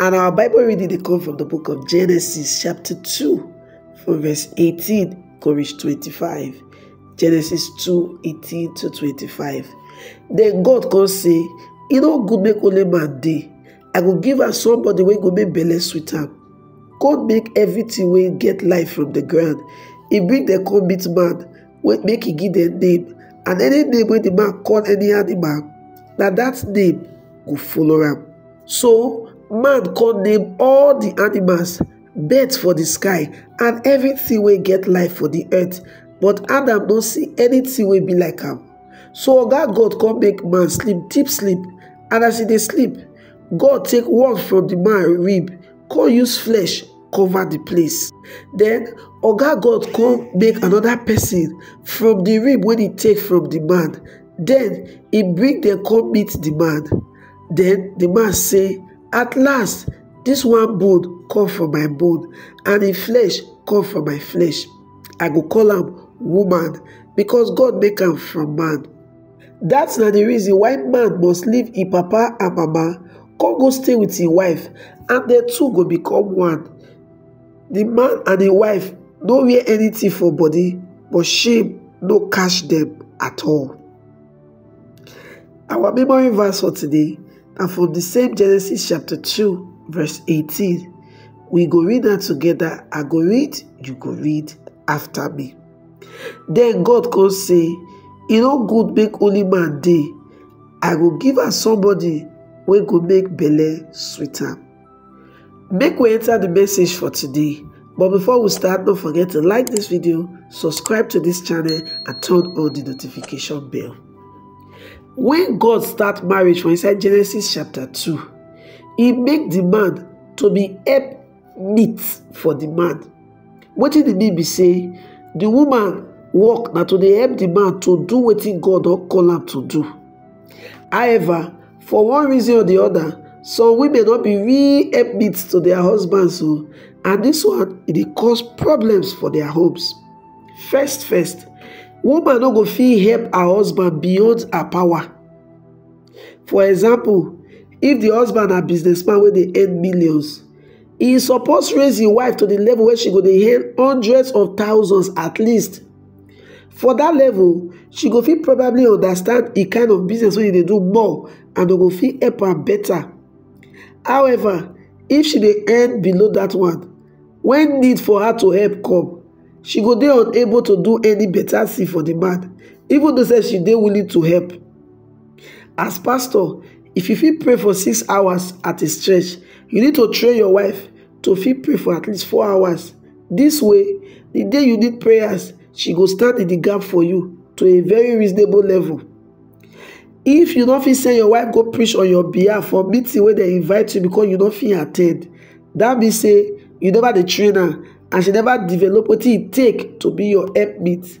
And our Bible reading they come from the book of Genesis, chapter 2, from verse 18 to reach 25. Genesis 2, 18 to 25. Then God can say, You know, good make only man day. I will give her somebody when go make belle sweet am. God make everything when get life from the ground. He bring the come meet man wey make e give dem name and any name wey the man call any animal na that name go follow am so man come name all the animals birds for the sky and everything wey get life for the earth but adam no see anything wey be like am so oga god come make man sleep deep sleep and as e dey sleep god take one from the man rib come use flesh cover the place then oga god come make another person from the rib wey he take from the man then he bring them come meet the man then the man say at last this one bone come from my bone and him flesh come from my flesh i go call am woman because god make am from man Dat na di reason why man must leave im papa and mama come go stay with im wife and dem two go become one. Di man and im wife no wear anything for body but shame no catch dem at all. Our memory verse for today na from di same Genesis chapter two verse eighteen. We go read am together, I go read, you go read after me. Den God kon sey, E nor good make only man dey, I go give am somebody wey go make belle sweet am. Make we enter di message for today but before we start no forget to like dis video, subscribe to dis channel and turn on di notification bell. Wen God start marriage for inside Genesis chapter two, e make di man to be help meat for the man wetin e mean be say the woman work na to dey help the man to do wetin god don call am to do however for one reason or the other some women no be real help meet to their husbands o and this one e dey cause problems for their homes first first woman no go fit help her husband beyond her power For example, if di husband na businessman wey dey earn millions, e suppose raise im wife to di level wey she go dey earn hundreds of thousands at least. For dat level, she go fit probably understand di kind of business wey e dey do more and go fit help am better. However, if she dey earn below dat one, when need for her to help come, she go dey unable to do any better thing for di man, even though sef she dey willing to help. As pastor, if you fit pray for six hours at a stretch, you need to train your wife to fit pray for at least four hours. This way, the day you need prayers, she go stand in the gap for you to a very reasonable level. If you don't feel say your wife go preach on your behalf for meeting where they invite you because you don't feel attend, that be say you never the trainer and she never develop what it take to be your helpmate.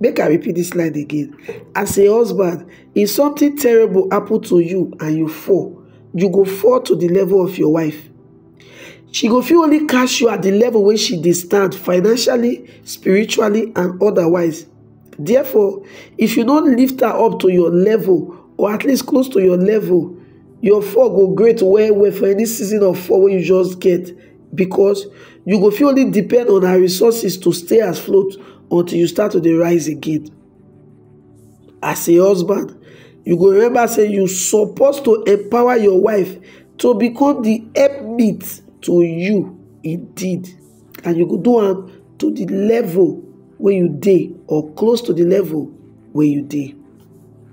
Make I repeat dis line again, as a husband if something terrible happen to you and you fall, you go fall to the level of your wife. She go fit only catch you at the level wey she dey stand financially, spiritually and otherwise. Therefore, if you no lift her up to your level or at least close to your level, your fall go great well well for any season of fall wey you just get. Because you go fit only depend on her resources to stay afloat until you start to dey rise again. As a husband, you go remember say you suppose to empower your wife to become the helpmeet to you indeed and you go do am to the level wey you dey or close to the level wey you dey.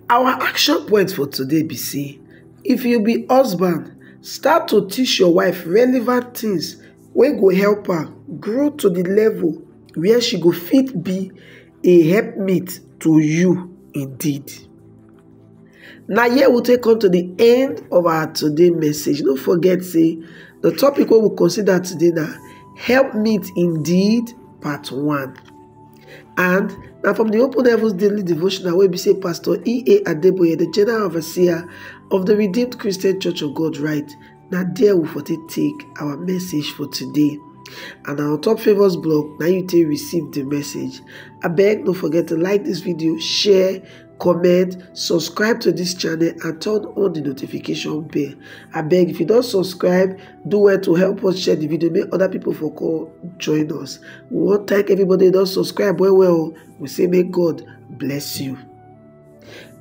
Our action point for today be say if you be husband start to teach your wife relevant things wey go help her grow to the level where she go fit be a helpmate to you indeed. na here we take come to the end of our today message no forget say the topic wey we consider today na help meet indeed part one and na from di open heavens daily devotional wey be say pastor ea adeboye di general overseer of di redeemed christian church of god write na there we for take take our message for today and our top favours blog na you take receive di message abeg no forget to like dis video share comment subscribe to this channel and turn on the notification bell I beg if you don't subscribe do well to help us share the video make other people for call join us we wan thank everybody who don't subscribe well well we say may god bless you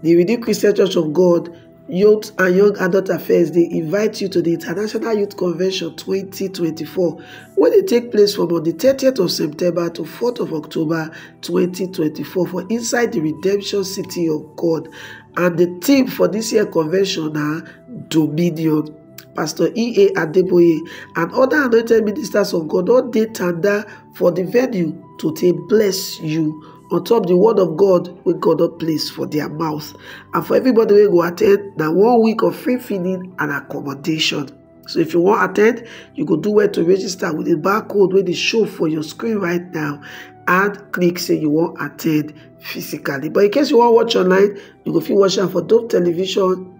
the redeemed christian church of god Youth and Young Adult Affairs dey invite you to di International Youth Convention 2024 wey dey take place from on di 30th of September to 4th of October 2024 for inside di Redemption City of God and di theme for dis year convention na Dominion. Pastor E.A. Adeboye and oda anointed ministers of God don dey tanda for di venue to take bless you. on top the word of God wey God don place for their mouth and for everybody wey go attend na one week of free feeding and accommodation. So if you wan attend, you go do well to register with the barcode wey dey show for your screen right now and click say you wan attend physically. But in case you wan watch online, you go fit watch am for Dope Television